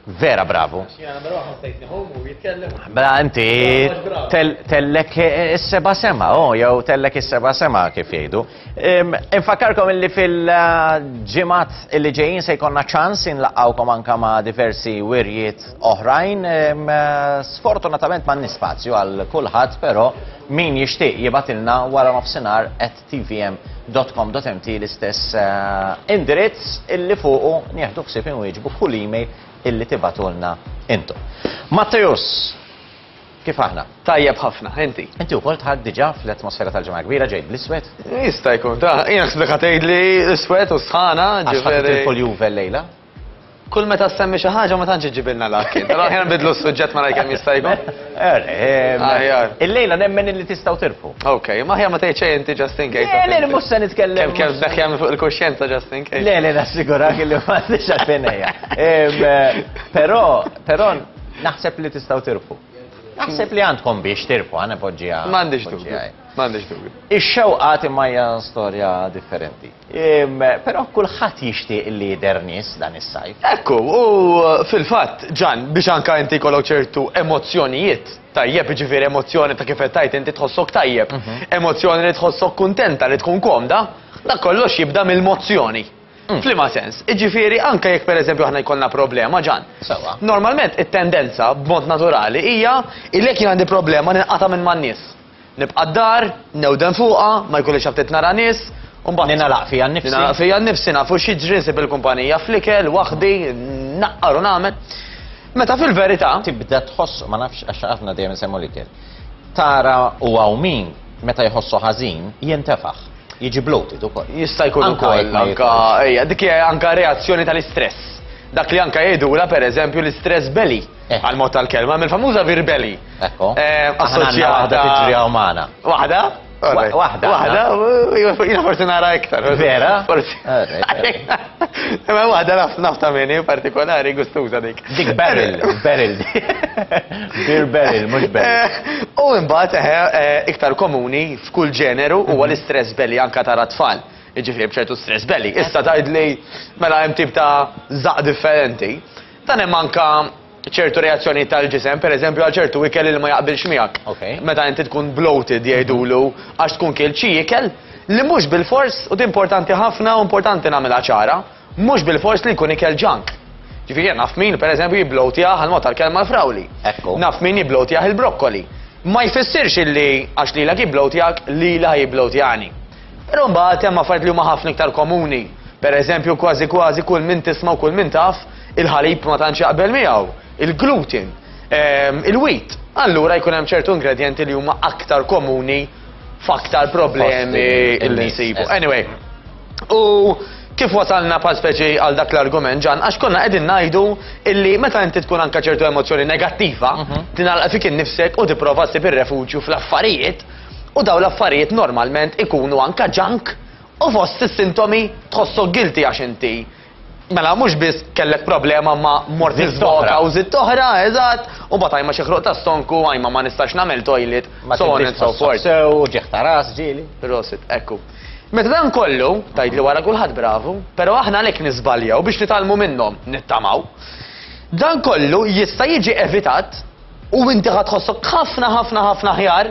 Vera bravu. Bra inti tellek is-seba sema, oh, jew tellek is-seba sema kif jgħidu. Infakkarkom illi fil-ġimat illi ġejjin se jkollna ċans inlaqgħukom anka ma' diversi wirjiet oħrajn. Sfortunatament ma' nispazju għal kulħadd, però min jixtieq jibatilna wara nofsinhar qed tvm.com.mt l-istess indirizz illi fuqu nieħdu ħsieb inwieġbu kull email illi tibatulna intom. Matteus, Kif aħna? Tajjeb ħafna, inti. Inti wkoll tħad diġà fl-atmosfera tal-ġimgħa kbira ġejt bl-iswed? Jista' jkun ta' jien ħsbek ħatejd li iswed u sħana ġifieri. Għax ħadd il-Juve llejla? Kull meta ssemmi xi ħaġa ma tantx iġġibilna l-akil. Però aħjar nbidlu s-suġġett ma kemm jista' jkun. Er, eh, Aħjar. Il-lejla nemmen li tistgħu tirfu. Ok, ma aħjar ma tgħid xejn inti just in case. Le, le, mhux se nitkellem. Kemm kemm daħja minn fuq il-kuxjenza just in case. Le, le, nassigurak li ma għandix għalfejn ejja. Em, eh, Però, però naħseb li tistgħu tirfu. Naħseb li għandkom biex tirfu, għana poġġija. M'għandix dubju. M'għandix dubju. Ix-xewqat imma hija storja differenti. Però kulħadd jixtieq li jidher nies dan is-sajf. Ekku, u fil-fatt, Ġan, biex anke inti jkollok ċertu emozzjonijiet, tajjeb, jiġifieri emozzjoni ta' kif qed tgħid inti tħossok tajjeb, emozzjoni li tħossok kuntenta, li tkun komda, dak kollox jibda mill-mozzjoni. F'liema sens? Jiġifieri anke jekk pereżempju aħna jkollna problema, Ġan, normalment it-tendenza, b'mod naturali, hija li jekk jien għandi problema ninqata' minn man-nies. Nibqa' d-dar, newden fuqha, ma jkollix aptit nara nies, u mbagħad. Ningħalaq fija nnifsi. Ningħalaq fija nnifsi, naf hux jiġri, nsib il-kumpanija fl-ikel, waħdi, nnaqqar u nagħmel. Meta fil-verità. Tibda tħoss, ma nafx għax aħna dejjem insemmu l-ikel. Tara u hawn min meta jħossu ħażin jintefaħ. Jiġi bloated ukoll. Jista' jkun ukoll anka ejja, dik hija anka reazzjoni tal-istress. Dak li anka jgħidula pereżempju l-istress belly. Eh. għal mod tal-kelma, mill-famuża virbeli. Ekku. Eh, assoċjata. Waħda tiġri għaw maħna. Waħda? Waħda. Waħda, jina forsi nara iktar. Vera? Forsi. Ma waħda nafta minni partikolari gustuza dik. Dik barrel, barrel. Bir barrel, mux barrel. Eh, u imbat, iktar komuni f'kull ġeneru u għal mhm. stress belli anka tara tfal. Iġifri bċertu stress belli. Issa tajd li mela jem tip ta' zaq differenti. Dan hemm anke ċertu reazzjonijiet tal-ġisem, pereżempju għal ċertu ikel li ma jaqbilx miegħek. Meta inti tkun bloated jgħidulu għax tkun kilt xi ikel li mhux bilfors, u din importanti ħafna u importanti nagħmilha ċara, mhux bilfors li jkun ikel junk. Ġifieri jien naf min pereżempju jibbloatjah għall-mod tal-kelma l-frawli. Naf min jibbloatjah il-brokkoli. Ma jfissirx illi għax lilek jibbloatjak, lili ħa jibbloatjani. Però mbagħad hemm affarijiet li huma ħafna iktar komuni. Per eżempju, kważi kważi kull min tisma' u kull min taf, il-ħalib ma tantx jaqbel miegħu, il-gluten, ehm, il-wheat. Allura jkun hemm ċertu ingredjenti li huma aktar komuni f'aktar problemi li nsibu. Anyway, u kif wasalna pa' speċi għal dak l-argument ġan, għax konna qegħdin ngħidu illi meta inti tkun anka ċertu emozzjoni negattiva, mhm. tinalqa fik innifsek u tipprova ssib ir-refuġju fl-affarijiet U dawn l-affarijiet normalment ikunu anka junk u fost is-sintomi tħossok guilty għax inti Mela mhux biss kellek problema ma mort iżvoka u żitt oħra, eżatt, u mbagħad għajma xi ħruq tas-sonku, għajma ma nistax nagħmel toilet, so on and so forth. Sew ġieħ ta' ras ġieli. Rosit, ekku. Meta dan kollu, tajt li wara kulħadd bravu, però aħna għalhekk niżbaljaw biex nitalmu minnhom, nittamaw. Dan kollu jista' jiġi evitat U inti ħad tħossok ħafna ħafna ħafna ħjar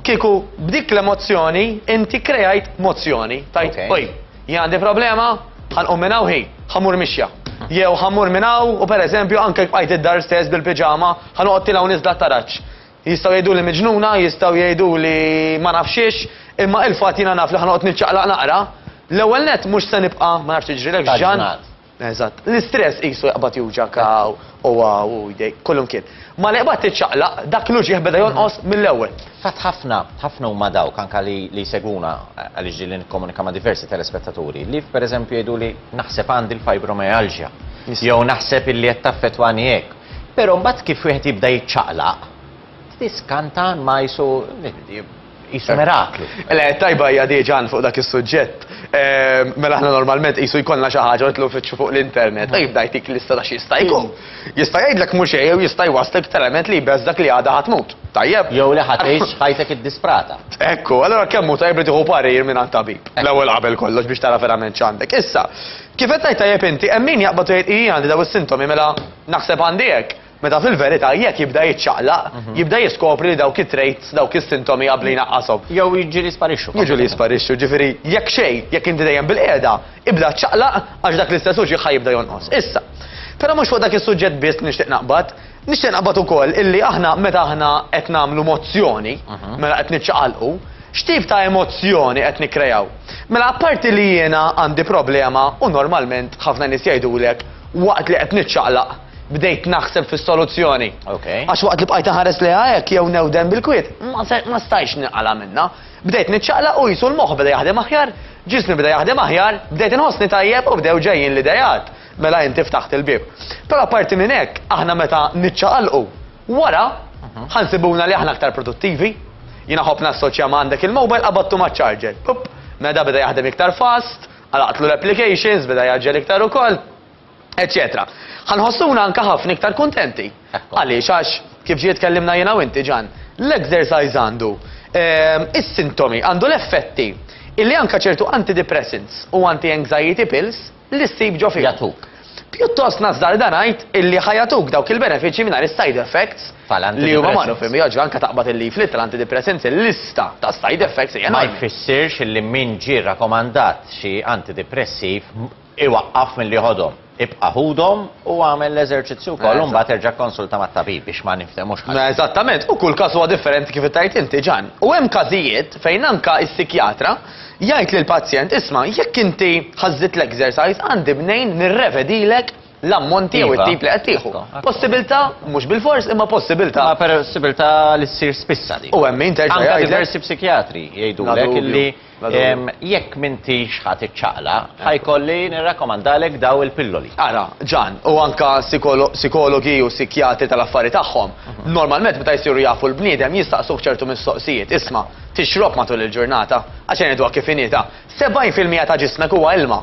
kieku b'dik l-emozzjoni inti krejajt mozzjoni. Tajt, oj, jien għandi problema, ħanqum minn hawn ħi, ħamur mixja. Jew ħamur minn hawn u pereżempju anke bqajt id-dar stess bil-piġama, ħanoqgħod tilgħu niżda taraġġ. Jistgħu jgħidu li miġnuna, jistgħu jgħidu li ma nafxiex, imma il-fatt jiena naf li ħanoqgħod niċċaqlaq naqra, l-ewwel net mhux se nibqa' ma nafx tiġrilek ġan. Eżatt. L-istress qisu jaqbad juġgħek hawn u hawn u jdejk, kull imkien. Malli qbad tiċċaqlaq, dak l-uġigħ beda jonqos mill-ewwel. Fatt ħafna, ħafna huma dawk anke li li jsegwuna għaliex ġieli nikkomunika ma' diversi telespettaturi li pereżempju jgħiduli naħseb għandi l-fibromyalgia jew naħseb illi qed taffettwani hekk. Però mbagħad kif wieħed jibda jiċċaqlaq, tiskanta ma qisu Qisu miraklu. Le, tajba hija di ġan fuq dak is-suġġett. Ehm, mela aħna normalment qisu jkollna xi ħaġa nitlu fitxu fuq l-internet, mm. jibda jtik lista ta' xi jista' jkun. Mm. Jista' jgħidlek mhux jew jista' jwassek element li jbeżżak li għadha ħadd mut. Tajjeb. Jew li ħadd tgħix ħajtek id-disprata. Ekku, allora kemm hu tajjeb li tieħu parir minn għand tabib. L-ewwel qabel kollox biex tara verament x'għandek. Issa, kif qed tajjeb inti, hemm min jaqbad jgħid hija għandi daw is-sintomi mela naħseb għandi hekk. Meta fil-verità jekk jibda jiċċaqlaq, jibda jiskopri li dawk it-traits, dawk is-sintomi qabli jnaqqashom. Jew jiġu li jisparixxu. Jiġu li jisparixxu, ġifieri jekk xejn, jekk inti dejjem bilqiegħda, ibda ċċaqlaq għax dak l-istess uġigħ ħa jibda jonqos. Issa, però mhux fuq dak is-suġġett biss li nixtieq naqbad, nixtieq naqbad ukoll illi aħna meta aħna qed nagħmlu mozzjoni, mela qed niċċaqalqu, x'tip ta' emozzjoni qed nikkreaw? Mela apparti li jiena għandi problema u normalment ħafna nies jgħidulek waqt li qed niċċaqlaq, bdejt naħseb fis-soluzzjoni. Okay. Għax waqt li bqajt ħares li hekk jew newden bil-kwiet, ma stajx niqala minna. Bdejt niċċaqlaq u jisu l-moħħ bda jaħdem aħjar, ġismi bda jaħdem aħjar, bdejt inħossni tajjeb u bdew ġejjin l-idejat. Mela inti ftaħt il-bib. Però parti minn hekk, aħna meta niċċaqalqu wara mhm. ħansibuna li aħna aktar produttivi. Jina ħobb nassoċja ma għandek il-mobile qabattu ma' charger. Pup, meda beda jaħdem iktar fast, għalaqtlu l-applications, beda jaġġel iktar ukoll. eċċetera. Ħa nħossuna anke ħafna iktar kuntenti. Għaliex għax kif ġie tkellimna jiena u inti ġan, l-exercise għandu ehm, is-sintomi, għandu l-effetti illi anka ċertu antidepressants u anti-anxiety pills li ssib ġo fija. Jatuk. Pjuttost nazzar dan għajt illi ħajatuk dawk il-benefiċi minn side effects li huma marru fim joġ anka taqbad il-lif li tal-antidepressants il-lista ta' side effects. Ma jfissirx illi min ġi rakomandat xi antidepressiv Iwaqqaf milli jħodhom. Ibqa' ħudhom u agħmel l-eżerċizzju wkoll u mbagħad erġa' kkonsulta mat-tabib biex ma ninftehmux ħażin. Eżattament, u kull każ huwa differenti kif tgħid inti, Ġann. U hemm każijiet fejn anke s-sikjatra jgħid lill-pazjent, isma' jekk inti ħażżidt l-exercise għandi mnejn nirrevedilek l-ammonti jew it-tip li qed tieħu. Possibilità, mhux bilfors, imma possibilità. Imma possibilità li ssir spissa din. U hemm min terġa' jgħidlek. Anke diversi psikjatri jgħidulek illi. Jekk m'intix ħa tiċċaqlaq, ħa jkolli nirrakkomandalek daw il-pilloli. Ara, Ġan, u anke sikologi u sikjatri tal-affari tagħhom, normalment meta jsiru jafu l-bniedem jistaqsuh ċertu mistoqsijiet, isma', tixrob matul il-ġurnata? Għax ngħiduha kif inhi, ta' 70 fil-mija ta' ġismek huwa ilma.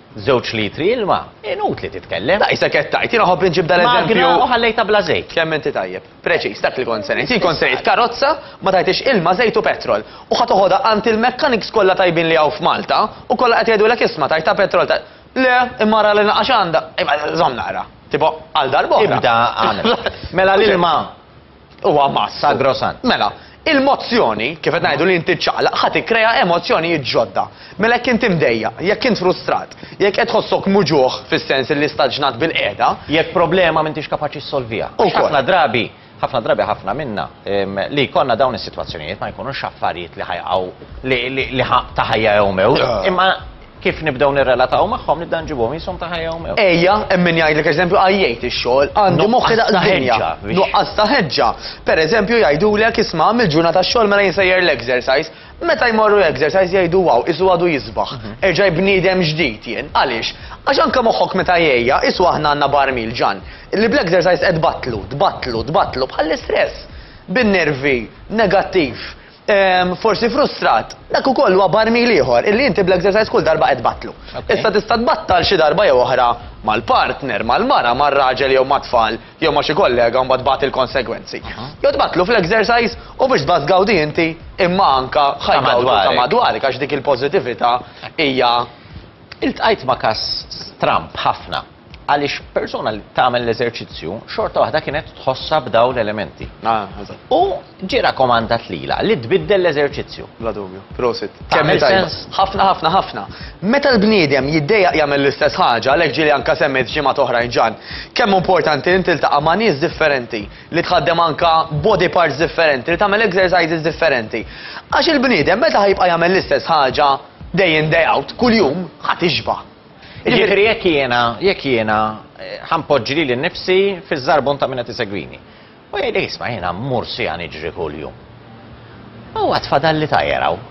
Żewġ litri ilma, inutli titkellem. Da isek qed tgħid, jiena ħobb inġib dan eżempju. Magna u ħallejtha bla żejt. Kemm inti tajjeb. Preċiż, dak li kont se ngħid. Jien kont se ngħid karozza, ma tgħidhiex ilma, żejt u petrol. U ħa toħodha għand il-mechanics kollha tajbin li hawn f'Malta u kollha qed jgħidulek isma' tgħidha petrol Le, imma ara li naqax għandha. Imma żomm naqra. Tipo, għal darb'oħra. Ibda għamel. Mela l-ilma. Huwa mass sagrosant. Mela, il-mozzjoni, kif qed ngħidu li inti ċċaqlaq, ħa tikkrea emozzjonijiet ġodda. Mela jekk inti mdejjaq, jekk int frustrat, jekk qed tħossok muġugħ fis-sens li staġnat bil-qiegħda. Jekk problema m'intix kapaċi ssolviha. Għax ħafna drabi, ħafna drabi ħafna minna li jkollna dawn is-sitwazzjonijiet ma jkunux affarijiet li ħa jaqgħu li ħa ta' ħajja jew mewt, imma Kif nibdew nirrelataw magħhom nibda nġibhom qishom ta' ħajja u mewt. Ejja, hemm min jgħidlek eżempju għajjejt ix-xogħol, għandi moħħi daqs id-dinja. Nuqqas ta' ħeġġa. Pereżempju jgħidulek isma' għamilt ġurnata xogħol mela jien sejjer l-exercise. Meta jmorru exercise jgħidu wow, qisu għadu jisbaħ. Erġaj bniedem ġdid jien. Għaliex? Għax anke moħħok meta jgħejja, qisu aħna għandna barmil ġann, li bl-exercise qed tbattlu, tbattlu, tbattlu bħall-istress. Bin-nervi, negattiv. forsi frustrat, dak ukoll huwa barmil ieħor illi inti bl-exercise kull darba qed tbattlu. Issa tista' tbattal xi darba jew oħra mal-partner, mal-mara, mar-raġel jew mat-tfal jew ma' xi kollega u mbagħad tbati l-konsegwenzi. Jew tbattlu fl-exercise u biex tbati tgawdi inti imma anke ħajgawdu ta' madwarek għax dik il-pożitività hija Iltqajt ma' każ stramb ħafna. għaliex persuna li tagħmel l-eżerċizzju xorta waħda kienet tħossha b'daw l-elementi. Ah, eżatt. U ġie rakkomandat lila li tbiddel l-eżerċizzju. Bla dubju, prosit. Tagħmel sens? Ħafna, ħafna, ħafna. Meta l-bniedem jiddejjaq jagħmel l-istess ħaġa, għalhekk ġieli anke semmejt ġimgħa toħra ġan, kemm importanti li tiltaqa' ma' nies differenti, li tħaddem anke body parts differenti, li tagħmel exercises differenti. Għax il-bniedem meta ħajbqa' jagħmel l-istess ħaġa day in day out, kuljum ħadd ixba'. Jiġifieri jekk jiena, jekk jiena ħa npoġġi lili nnifsi fiż-żarbun ta' min qed isegwini. U jgħidlek isma' jiena mmur siegħa niġri kuljum. U għad fadalli tajjer hawn.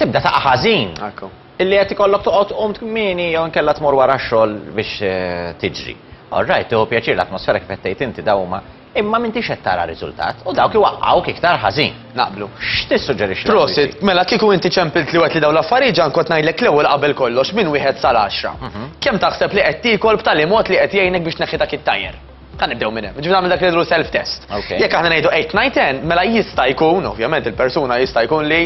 Tibda taqa' ħażin. Ekku. Illi qed ikollok toqgħod tqum kmieni jew inkella tmur wara x-xogħol biex tiġri. All right, tieħu pjaċir l-atmosfera kif qed tgħid inti dawn huma Imma m'intix qed tara riżultat, u dawk iwaqqgħuk iktar ħażin. Naqblu. X'tissuġġerixxi? Prosit, mela kieku inti ċempilt li wet li dawn l-affarijiet ġan kont ngħidlek l-ewwel qabel kollox minn wieħed sal għaxra. Kemm taħseb li qed tiekol b'tali mod li qed jgħinek biex tneħħi dak it-tajr? Ħa nibdew minn hemm. Ġifieri nagħmel dak li ngħidlu self-test. Jekk aħna ngħidu eight, nine, ten, mela jista' jkun, ovvjament il-persuna jista' jkun li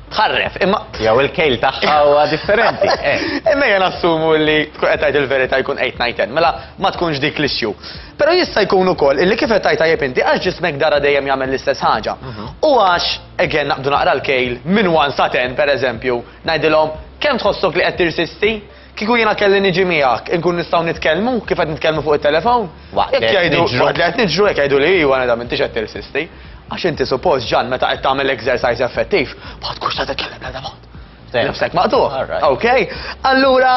tħarref, imma jew il-kejl tagħha huwa differenti. Eh. Imma jien assumu li tkun qed tgħid il-verità jkun 8 mela ma tkunx dik l-issue. Però jista' jkun ukoll illi kif qed tgħid tajjeb inti għax ġismek dara dejjem jagħmel l-istess ħaġa. Mhm. U għax again naqbdu naqra l-kejl minn 1 sa 10 pereżempju, ngħidilhom kemm tħossok li qed tirsisti? Kieku jiena kelli niġi miegħek, inkun nistgħu nitkellmu kif qed nitkellmu fuq it-telefown? Waqt li qed niġru. Waqt li qed niġru jekk jgħidu li iwa neda m'intix qed tirsisti. Għax inti suppost ġan meta qed tagħmel exercise effettiv, ma tkunx ta' titkellem l-ebda mod. Nifsek maqtuħ. Ok? Allura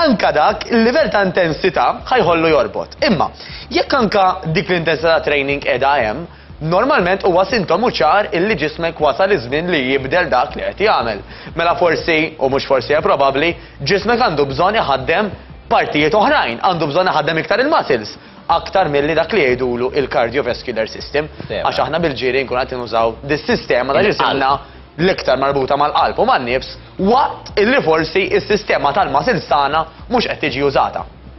anka dak il-livell ta' intensità ħajħollu jorbot. Imma jekk anka dik l-intensità training qiegħda hemm, Normalment huwa sintomu ċar illi ġismek wasal iż-żmien li jibdel dak li qed jagħmel. Mela forsi, u mhux forsi hekk probabbli, ġismek għandu bżonn iħaddem partijiet oħrajn, għandu bżonn iħaddem iktar il-muscles aktar milli dak li jgħidulu il-cardiovascular system, għax aħna bil-ġiri nkunu qed nużaw dis-sistema ta' ġisimna l-iktar marbuta mal-qalb u man-nifs waqt illi forsi s-sistema tal-muscles tagħna mhux qed tiġi użata.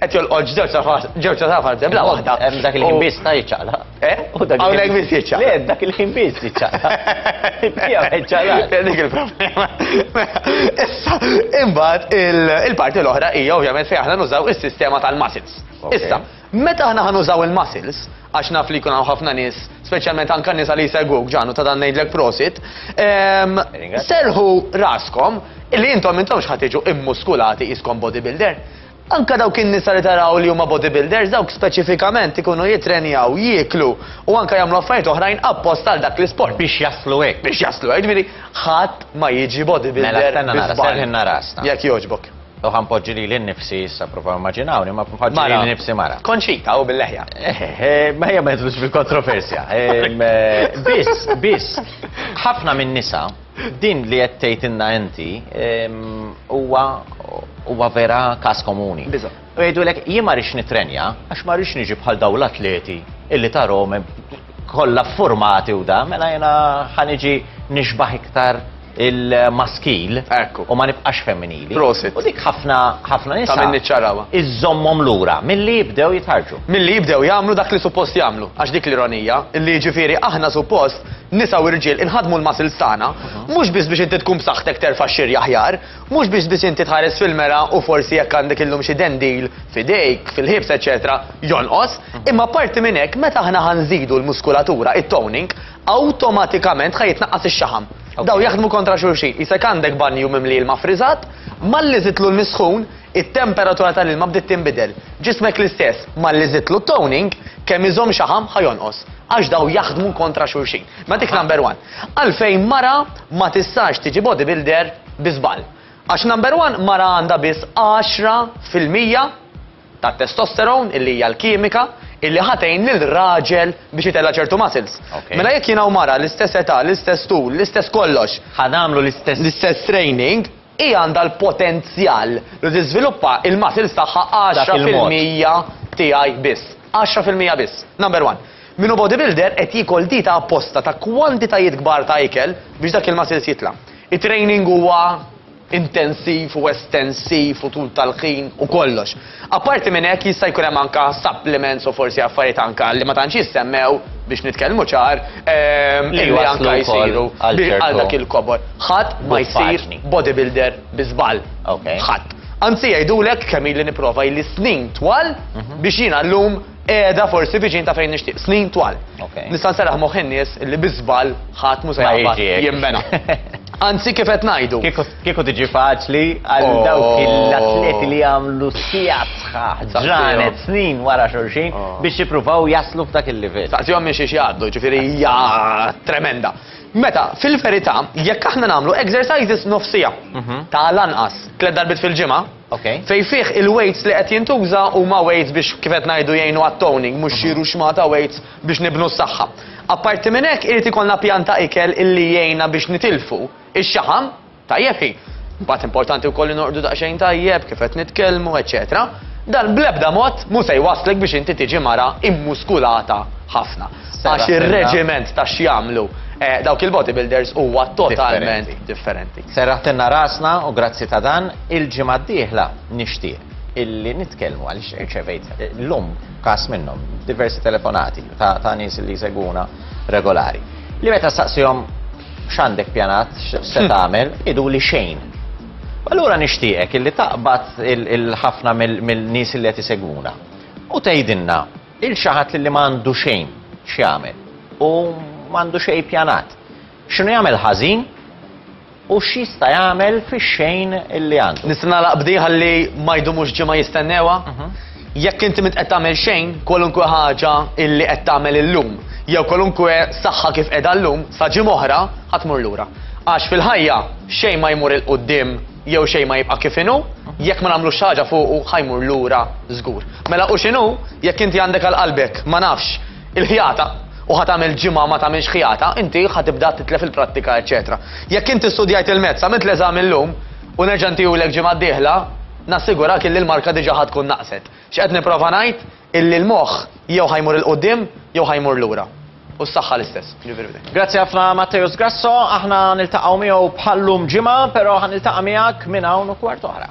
Qed jolqot ġewġ tafas, ġewġ tafas de bla waħda. Hemm dak il-ħin biss ta' jiċċaqla. Eh? Hawnhekk biss jiċċaqla. Le, dak il-ħin biss jiċċaqla. Tiegħu jiċċaqla. Dik il-problema. Issa, imbagħad il-parti l-oħra hija ovvjament fejn aħna nużaw is-sistema tal-muscles. Issa, meta aħna ħanużaw il-muscles, għax naf li jkun hawn ħafna nies, speċjalment anke nies li jsegwuk ġanu ta' dan ngħidlek prosit, ehm, serħu raskom li intom intom xħatiġu immuskulati iskom bodybuilder. Anke dawk in-nisa li taraw li huma bodybuilders dawk speċifikament ikunu jittrenjaw, jieklu u anke jagħmlu affarijiet oħrajn apposta għal dak l-isport. Biex jaslu hekk. Biex jaslu hekk. Jiġifieri ħadd ma jiġi bodybuilder bi żball. Mela stenna nara, serrħilna rasna. Jekk jogħġbok. U ħa npoġġi lili nnifsi issa provaw immaġinawni ma npoġġi lili nnifsi mara. Konċita u bil-leħja. Eh, eh, eh, ma hija ma jidħlux fil-kontroversja. Biss, biss, ħafna minn nisa Din li qed tgħidilna inti huwa huwa vera każ komuni. Biża'. U jgħidulek jien ma rridx nittrenja għax ma rridx niġi bħal dawn l-atleti illi tarahom kollha ffurmati u da, mela jiena ħa niġi nixbaħ iktar il-maskil u ma nibqax femminili. Prosit. U dik ħafna ħafna nisa. Ta' minni ċarawa. Iżommhom lura milli jibdew jitħarġu. Milli jibdew jagħmlu dak li suppost jagħmlu. Għax dik l-ironija, li jiġifieri aħna suppost Nisa u rġiel inħaddmu l-muscles tagħna, mhux biss biex inti tkun b'saħħtek terfa' x-xiri aħjar, mhux biex biss inti tħares fil-mera u forsi jekk għandek illum xi dendil f'idejk, fil-ħiebs eċċetera jonqos, imma apparti minn hekk meta aħna ħa nżidu l-muskulatura, it-toning, awtomatikament ħa jitnaqqas ix-xaħam. Dawn jaħdmu kontra xulxin. Qisek għandek banju mimli ilma ffriżat, malli żidtlu l-misħun, It-temperatura tal-ilma bdiet tinbidel. Ġismek l-istess, malli żidtlu t-toning, kemm iżomm xaħam ħa jonqos, għax dawn jaħdmu kontra xulxin. Ma dik number one. Għalfejn mara ma tistax tiġi bodybuilder bi żball. Għax number one mara għandha biss 10 fil-mija tat-testosterone illi hija l-kimika illi ħatejn lil raġel biex jitella ċertu muscles. Okay. Mela jekk jina u mara l-istess età, l-istess tul, l-istess kollox. Ħanamlu l-istess. L-istess training, Hi għandha l-potenzjal li tiżviluppa il-muscles tagħha għaxra fil-mija tiegħi biss. Għaxra fil-mija biss. Number one. Min hu bodybuilder qed jiekol dieta apposta ta' kwantitajiet kbar ta' ikel biex dak il-muscles jitla'. It-training huwa intensiv u estensiv u tul tal-ħin u kollox. Apparti minn hekk jista' jkun hemm anka supplements u forsi affarijiet anka li ma tantx jissemmew, biex nitkellmu ċar, li anka jsiru għal dak il-kobor. Ħadd ma jsir bodybuilder bi żball. Ħadd. Anzi jgħidulek kemm ili nipprova ili snin twal biex jiena llum qiegħda forsi viċin ta' fejn nixtieq. Snin twal. Nista' nserraħ moħħ in-nies li bi żball ħadd mhu se jaqbad jinbena. Anzi kif qed ngħidu. Kieku tiġi faċli għal dawk l-atleti li għamlu sigħat sħaħ, ġranet, snin wara xulxin biex jippruvaw jaslu f'dak il-livell. Staqsihom minn xiex jgħaddu, ġifieri hija tremenda. Meta, fil-verità, jekk aħna nagħmlu exercises nofs siegħa, ta' l-anqas tliet darbiet fil-ġimgħa, fejn fih il-weights li qed jintuża huma weights biex kif qed ngħidu jgħinu għat-toning, mhux xi ruxma ta' weights biex nibnu s-saħħa. Apparti minn hekk irid ikollna pjan ta' ikel illi jgħinna biex nitilfu. Ix-xaħam, tajjeb hi. Imbagħad importanti wkoll li norqdu daqsxejn tajjeb, kif qed nitkellmu, eċċetera Dan bl-ebda mod mhu se jwasslek biex inti tiġi mara immuskulata ħafna. Għax ir-reġiment ta' x'jagħmlu dawk il-bodybuilders huwa totalment differenti. Serraħtilna rasna u grazzi ta' dan. Il-ġimgħa d-dieħla nixtieq illi nitkellmu għaliex irċevejt llum każ minnhom diversi telefonati ta' nies li jsegwuna regolari. Li meta staqsihom X'għandek pjanat, x'se tagħmel, iduli xejn. Allura nixtieqek illi taqbad il-ħafna mill-nies li qed isegwuna u tgħidilna il xi ħadd li ma għandu xejn x'jagħmel u m'għandu xejn pjanat. X'inhu jagħmel ħażin u x'jista' jagħmel fix-xejn illi għandu. Nista' nagħlaq bdi ħalli ma jdumux ġimgħa jistennewa? Mhm. Jekk inti m'int qed tagħmel xejn, kwalunkwe ħaġa illi qed tagħmel illum, jew kwalunkwe saħħa kif qiegħda llum, sa ġimgħa oħra ħa tmur lura. Għax fil-ħajja xejn ma jmur 'il quddiem jew xejn ma jibqa' kif inhu, jekk ma nagħmlux xi ħaġa fuqu ħa jmur lura żgur. Mela u x'inhu jekk inti għandek għal qalbek, ma nafx, il-ħjata, u ħa tagħmel ġimgħa ma tagħmilx ħjata, inti ħa tibda titlef il-prattika eċċetera. Jekk inti studjajt il-mezz, għamilt l-eżami llum, u nerġa' ntihulek ġimgħa d-dieħla, Nassigurak illi l-marka diġà ħa tkun naqset. X'qed nipprova ngħid, illi l-moħħ jew ħa jmur 'il quddiem jew ħa jmur lura. U s-saħħa l-istess. Jiġifieri b'hekk. Grazzi ħafna Matteus Grasso, aħna niltaqgħu miegħu bħal llum ġimgħa, però ħa niltaqa' miegħek minn hawn u kwart oħra.